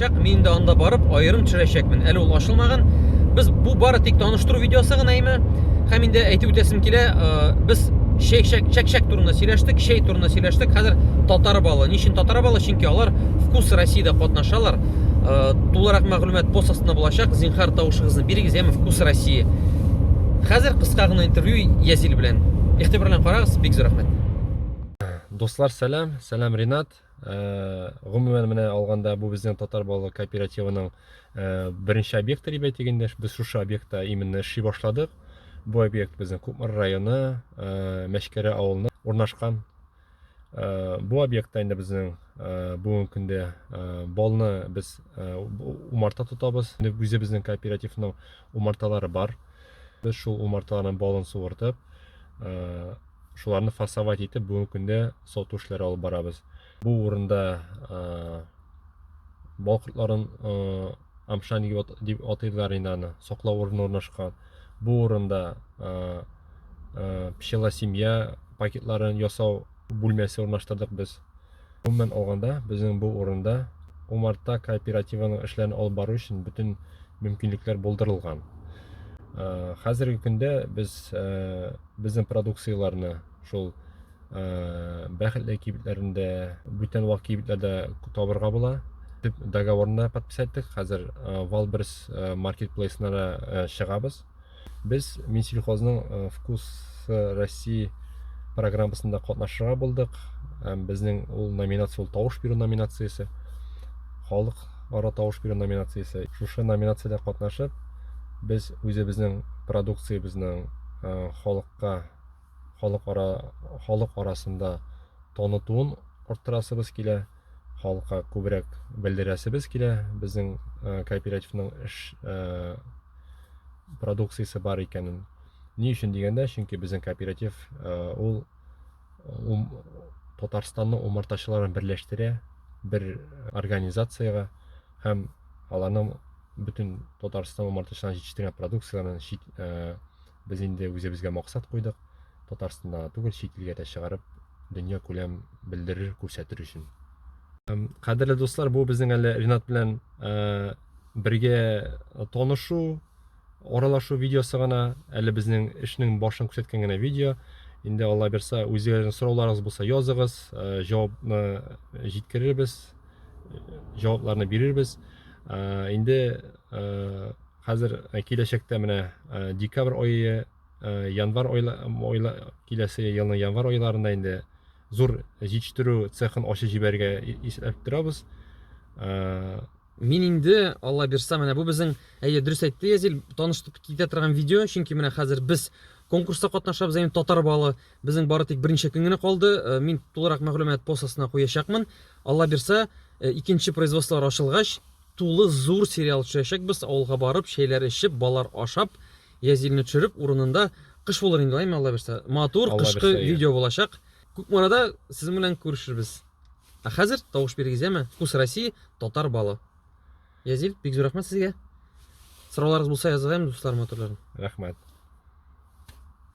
Чак, мин инде анда барып, аерым төшерәчәкмен. Әле ул ачылмаган. Без бу бары тик таныштыру видеосы гына име? Һәм инде әйтеп үтәсем килә, без чәк чәк чәк чәк турында сөйләштек, чәй турында сөйләштек. Хәзер татар балы. Ничин татар балы? Чөнки алар вкус Россиядә катнашалар. Тулырак мәгълүмат пост астында булачак. Зинхар тавышыгызны бирегез, яме вкус России. Хәзер кыска гына интервью Язил белән. Игътибар белән карагыз, бик зур рәхмәт. Дуслар, сәлам, сәлам Ринат. гомумән менә алганда бу безнең татар балалар кооперативының беренче объекты дип әйтик инде без шушы объектта именно эшли башладык бу объект безнең кукмар районы мәчкәрә авылына урнашкан бу объектта инде безнең бүгенге көндә балны без умарта тотабыз үзе безнең кооперативның умарталары бар без шул умарталарның балын суыртып Шуларны фасовать итеп, бүгенге көндә сату эшләре алып барабыз. Бу урында бал кортларын амшан дип атыйлар инде аны, саклау урыны урнашкан. Бу урында пчела семья пакетларын ясау бүлмәсе урнаштырдык без. Гомумән алганда, безнең бу урында умарта кооперативының эшләрен алып бару өчен бөтен мөмкинлекләр булдырылган. Хәзерге көндә без Безнең продукцияләрне шул бәхетле кибетләрендә, бүтән вак кибетләрдә табырга була. Дип договорны подписать иттек. Хәзер Валберс маркетплейсына да чыгабыз. Без Минсельхозның Вкус России программасында катнашырга булдык. Безнең ул номинация, ул тавыш бирү номинациясе. Халык ара тавыш бирү номинациясе. Шушы номинациядә катнашып, Без үзебезнең продукциябезнең халыкка халык ара халык арасында танытуын арттырасыбыз килә халыкка күбрәк белдерәсебез килә безнең э, кооперативның эш э, продукциясе бар икәнен ни өчен дигәндә чөнки безнең кооператив э, ул ум, Татарстанның умартачыларын берләштерә бер организациягә һәм аларның бөтен Татарстан умартачыларын җитештерген продукцияләрен чит, ә, без инде үзебезгә максат куйдык, Татарстанда түгел, чит илгә дә чыгарып, дөнья күләм белдерер, күрсәтер өчен. Кадерле дуслар, бу безнең әле Ренат белән бергә танышу, Аралашу видеосы гына, әле безнең эшнең башын күрсәткән генә видео. Инде Алла бирса, үзегезнең сорауларыгыз булса языгыз, э, җавапны җиткерербез, җавапларны бирербез. Э, инде э, хәзер э, киләчәктә менә э, декабрь айы э, январь айла, айла, киләсе елның январь айларында инде зур җитештерү цехын ачып җибәрергә исәпләп торабыз Мин инде, Алла бирса, менә бу безнең, әйе, дөрес әйтте Язил, таныштык китә торган видео, чөнки менә хәзер без конкурста катнашабыз, әйе, татар балы, безнең бары тик берничә көн генә калды, э, мин тулырак мәгълүмат пост астына куячакмын. Алла бирса, э, икенче производстволар ачылгач, тулы зур сериал төшәчәкбез, авылга барып, чәйләр эчеп, балар ашап, Язилне төшереп, урынында кыш булыр инде, әйме, Алла бирса. Матур кышкы видео булачак. Күкмарада сезнең белән күрешербез. Ә хәзер тавыш бирегез, яме? Вкус России, татар балы. Язил, бик зур рәхмәт сезгә. Сорауларыгыз булса языгыз, яме, дусларым матурларым. Рәхмәт.